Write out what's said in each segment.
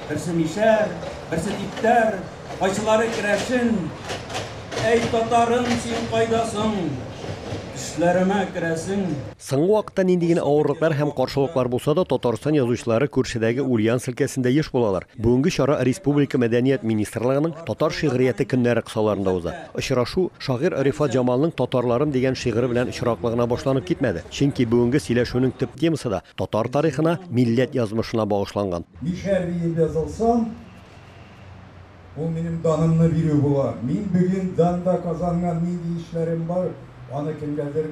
Берсе мишәр, берсе типтәр, кайсылары керәшен. Әй, татарым, син кайдасың? Төшләремә керәсең. Соңгы вакытта нинди генә авырлыклар һәм каршылыклар булса да, Татарстан язучылары күршедәге Ульяновск өлкәсендә еш булалар. Бүгенге чара республика Мәдәният министрлыгының Татар шигърияте көннәре кысаларында уза. Очрашу шагыйрь Рифат Җамалның Татарларым дигән шигыре белән очраклы гына башланып китмәде. Чөнки бүгенге сөйләшүнең төп темасы да татар тарихына, милләт язмышына багышланган. Мишәр диеп язылсам, ул минем данымны бирү була. Мин бүген данда казанган нинди эшләрем бар, аны кемгәдер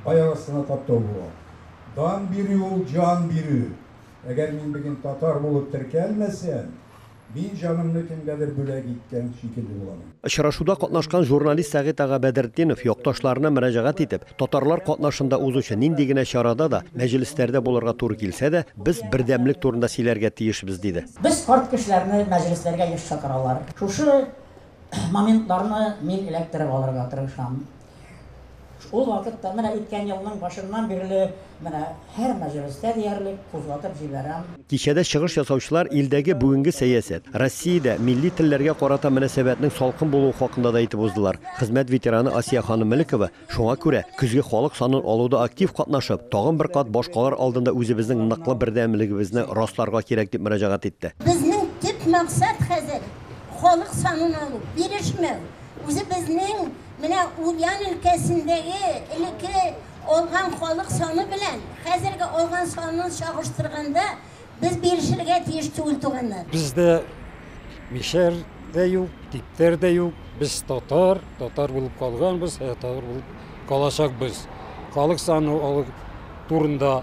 аяк астына таптау була. Дан бирү ул җан бирү. Әгәр мин бүген татар булып теркәлмәсәм, мин җанымны кемгәдер бүләк иткән шикелле булам. Очрашуда катнашкан журналист Сәгыйть ага Бәдретдинов якташларына мөрәҗәгать итеп, татарлар катнашында узучы нинди генә чарада да, мәҗлесләрдә булырга туры килсә дә, без бердәмлек турында сөйләргә тиешбез, диде. Без карт кешеләрне мәҗлесләргә еш чакыралар. Шушы моментларны мин эләктереп алырга тырышам. Ул вакытта, менә үткән елның башыннан бирле, менә һәр мәҗлестә диярлек кузгатып җибәрәм. Кичәдә чыгыш ясаучылар илдәге бүгенге сәясәт, Россиядә милли телләргә карата мөнәсәбәтнең салкын булуы хакында да әйтеп уздылар. Хезмәт ветераны Асия ханым Мөлекова шуңа күрә, көзге халык санын алуда актив катнашып, тагын бер кат башкалар алдында үзебезнең ныклы бердәмлегебезне расларга кирәк дип мөрәҗәгать итте. Безнең төп максат хәзер, халык санын алу, бирешмәү, үзебезнең Менә Ульян өлкәсендәге элекке алган халык саны белән хәзерге алган санын чагыштырганда, без бирешергә тиеш түгел, туганнар. Бездә мишәр дә юк, типтәр дә юк. Без татар, татар булып калганбыз, татар булып калачакбыз. Халык саны алу турында.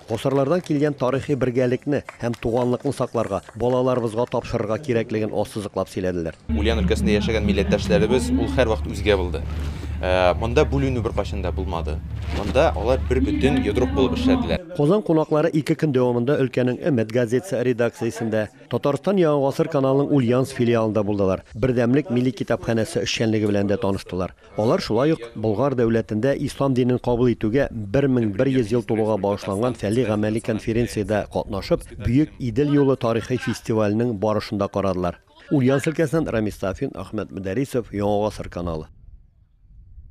Гасырлардан килгән тарихи бергәлекне һәм туганлыкны сакларга, балаларыбызга тапшырырга кирәклеген ассызыклап сөйләделәр. Ульян өлкәсендә яшәгән милләттәшләребез ул һәрвакыт үзгә булды. Монда бүленү беркайчан да булмады. Монда алар бер бөтен йодрык булып эшләделәр. Казан кунаклары ике көн дәвамында өлкәнең Өмет газетасы редакциясендә, Татарстан Яңа гасыр каналының Ульяновск филиалында булдылар, Бердәмлек милли китапханәсе эшчәнлеге белән дә таныштылар. Алар шулай ук Болгар дәүләтендә ислам динен кабул итүгә 1100 ел тулуга багышланган фәли-гамәли конференциядә катнашып, Бөек Идел юлы тарихи фестиваленең барышын да карадылар. Ульяновск өлкәсеннән Рамис Сафин, Ахмет Мөдәрисов, Яңа гасыр каналы.